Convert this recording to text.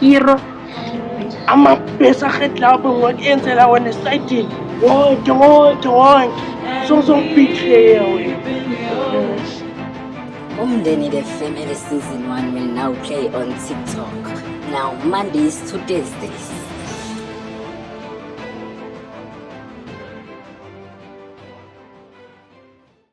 Hero. Ama besa get la bo ngot enze la wena side. Wo do wo do wo. So so betrayal. Umndeni the family season 1 will now play on TikTok. Now Mondays to Thursdays.